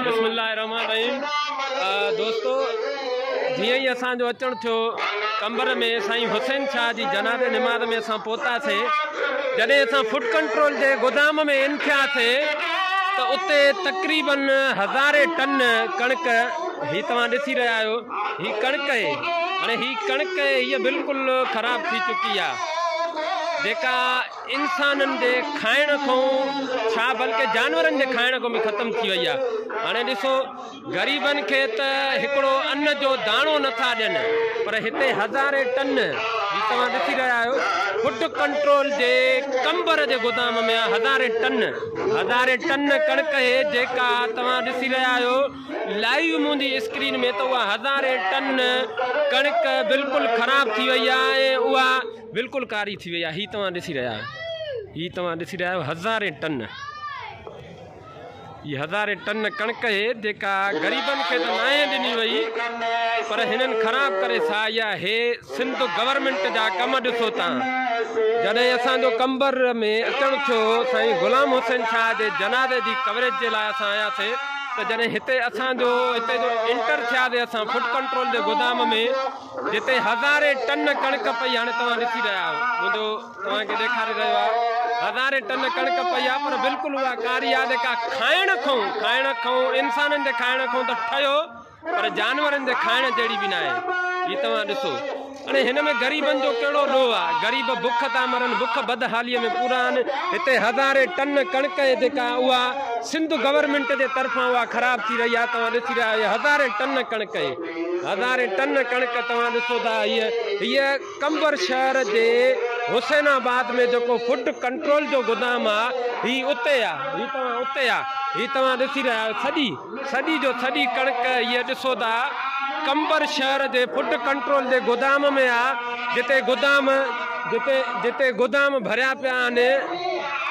بسم الله الرحمن الرحيم دوستو جي اي اسان جو اچڻ ٿيو قمبر ۾ سائين حسين شاهه جي جنازي نماز ۾ اسان پوتا سي جڏهن اسان فوڊ ڪنٽرول جي گودام ۾ ان ٿيا سي ته اتي تقريبا هزاري ٽن ڪڻڪ هي توهان ڏسي رهيا آهيو هي ڪڻڪ هي هاڻي هي ڪڻڪ هي بلڪل خراب ٿي چڪي آهي جيڪا انسانن جي کائڻ کون ڇا بلڪه جانورن جي کائڻ کون به ختم ٿي وئي آهي هاڻي ڏسو غريبن کي ته هڪڙو ان جو داڻو نٿا ڏين پر هتي هزارين ٽن جي توهان ڏسي رهيا آهيو فوڊ ڪنٽرول جي ڪمبر جي گودام ۾ هزارين ٽن هزارين ٽن ڪڻڪ هي جيڪا توهان ڏسي رهيا آهيو لائيو منهنجي اسڪرين ۾ ته اها هزارين ٽن ڪڻڪ بلڪل خراب ٿي وئي آهي اها بلڪل ڪاري ٿي وئي آهي هي توهان ڏسي رهيا آهيو هي توهان ڏسي رهيا آهيو هزارين ٽن هي هزارين ٽن ڪڻڪ هي جيڪا غريبن کي ته ناهي ڏني وئي پر هنن خراب ڪري سائي آهي سنڌ گورنمنٽ جا ڪم ڏسو تان جڏهن اسان جو قمبر ۾ اچڻ ٿيو سائين غلام حسين شاهه جي جنازي جي ڪوريج جي لاء اسان آيا سي ته جڏهن هتي اسان جو هتي جو انٽر ٿيا سي اسان فوڊ ڪنٽرول جي گودام ۾ جتي هزارين ٽن ڪڻڪ پئي هاڻي توهان ڏسي رهيا آهيو منهنجو توهان کي ڏيکاري رهيو آهي هزارين ٽن ڪڻڪ پئي آهي پر بلڪل اها ڪاري آهي جيڪا کائڻ کائون کائڻ کائون انسانن جي کائڻ کائون ته ٺهيو پر جانورن جي کائڻ جهڙي به ناهي هي توهان ڏسو هاڻي هن ۾ غريبن جو ڪهڙو ڏوهه آهي غريب بک تان مرن بک بدحالي ۾ پورا آهن هتي هزارين ٽن ڪڻڪ جيڪا اها سنڌ گورنمنٽ جي طرفان اها خراب ٿي رهي آهي توهان ڏسي رهيا آهيو هزارين ٽن ڪڻڪ هزارين ٽن ڪڻڪ توهان ڏسو ٿا هيء قمبر شهر جي حسين آباد ۾ جيڪو فوڊ ڪنٽرول جو گدام آ هي اتي آ هي توهان اتي آ هي توهان ڏسي رهيا آهيو ٿڏي ٿڏي جو ٿڏي ڪڻڪ هيء ڏسو ٿا قمبر شهر جي فوڊ ڪنٽرول جي گدام ۾ آ جتي گدام جتي جتي گدام ڀريا پيا آهن